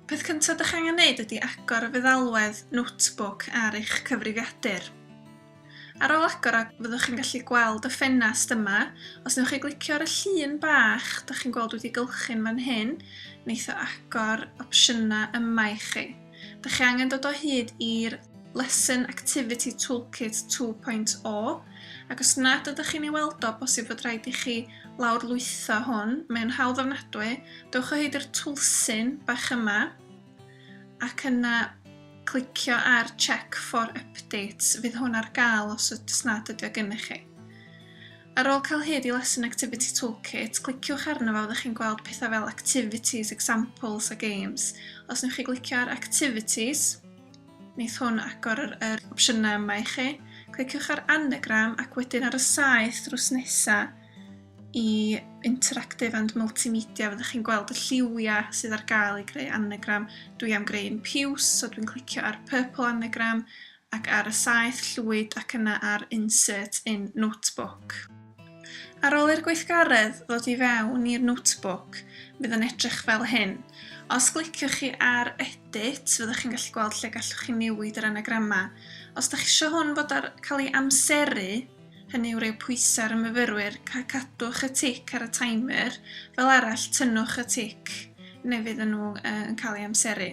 Peth cyntaf ydych angen wneud ydy agor y feddalwedd notebook ar eich cyfrifiadur. Ar ôl agor o, fyddwch chi'n gallu gweld y ffenast yma. Os newch chi glicio ar y llun bach, da chi'n gweld wedi gylchu'n fan hyn, wneith o agor opsiynau yma i chi. Dych chi angen dod o hyd i'r Lesson Activity Toolkit 2.0 ac os nad ydych chi'n ei weld o, bosib fod rhaid i chi lawrlwytho hwn. Mae'n hawdd ofnadwy. Dewch o hyd i'r twlsyn bach yma ac yna clicio ar Check for Updates. Fydd hwn ar gael os yd- os nad ydy o gennych chi. Ar ôl cael hyd i Lesson Activity Toolkit, cliciwch arno fo fyddwch chi'n gweld pethau fel Activities, Examples a Games. Os newch chi glicio ar Activities, wneith hwn agor yr, yr opsiynau yma i chi. Cliciwch ar Anagram ac wedyn ar y saeth drws nesaf i Interactive and Multimedia fyddwch chi'n gweld y lliwiau sydd ar gael i greu anagram. Dwi am greu'n piws, so dwi'n clicio ar Purple Anagram ac ar y saeth llwyd ac yna ar Insert in Notebook. Ar ôl i'r gweithgaredd ddod i fewn i'r Notebook, fydd yn edrych fel hyn. Os gliciwch chi ar Edit, fyddwch chi'n gallu gweld lle gallwch chi newid yr anagramau. Os ydych chi eisiau hwn fod ar cael ei amseru, hynny yw roi pwysau ar y myfyrwyr, cadwch y tic ar y timer, fel arall tynnwch y tic neu fydd nhw yn cael ei amseru.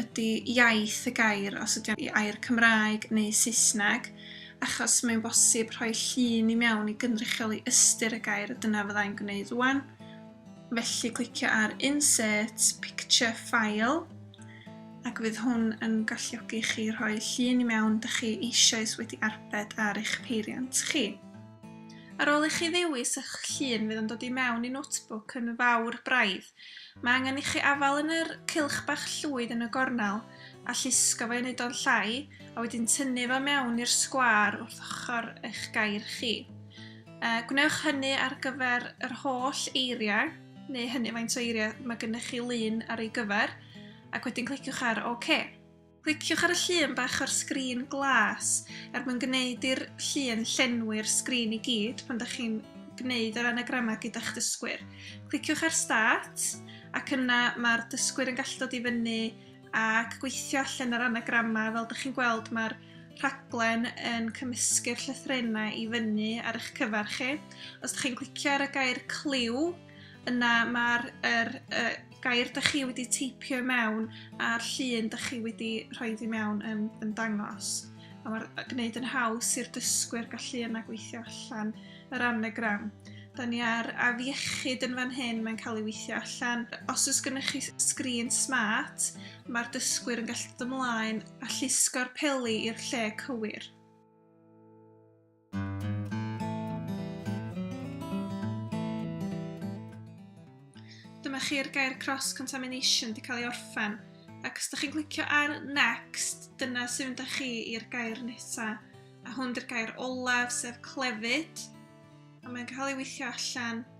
ydy iaith y gair, os ydy o'n i air Cymraeg neu Saesneg, achos mae'n bosib rhoi llun i mewn i gynrychioli ystyr y gair a dyna fyddai'n gwneud rwan. Felly clicio ar Insert Picture File ac fydd hwn yn galluogi chi rhoi llun i mewn dych chi eisoes wedi arbed ar eich peiriant chi. Ar ôl i chi ddewis eich llun fydd yn dod i mewn i Notebook yn fawr braidd. Mae angen i chi afael yn yr cylch bach llwyd yn y gornel a llusgo fo i wneud o'n llai a wedyn tynnu fo mewn i'r sgwâr wrth ochr eich gair chi. E, gwnewch hynny ar gyfer yr holl eiriau, neu hynny faint o eiriau mae gennych chi lun ar ei gyfer, ac wedyn cliciwch ar OK. Cliciwch ar y llun bach o'r sgrin glas er mwyn gwneud i'r llun llenwi'r sgrin i gyd pan ydych chi'n gwneud yr anagramau gyda'ch dysgwyr. Cliciwch ar Start ac yna mae'r dysgwyr yn gallu dod i fyny ac gweithio allan yr anagramau. Fel ydych chi'n gweld mae'r rhaglen yn cymysgu'r llythrenau i fyny ar eich cyfer chi. Os ydych chi'n clicio ar y gair cliw Yna mae'r er, er, gair da chi wedi teipio mewn a'r llun da chi wedi rhoi i mewn yn, yn dangos. A mae'r gwneud yn haws i'r dysgwyr gallu yna gweithio allan yr anagram. Da ni ar afiechyd yn fan hyn, mae'n cael ei weithio allan. Os oes gennych chi sgrin smart, mae'r dysgwyr yn gallu dod ymlaen a llusgo'r peli i'r lle cywir. Dyma chi'r gair cross-contamination di cael ei orffen. Ac os da chi'n clicio ar next, dyna sy'n mynd â chi i'r gair nesa. A hwn di'r gair olaf, sef clefyd. A mae'n cael ei weithio allan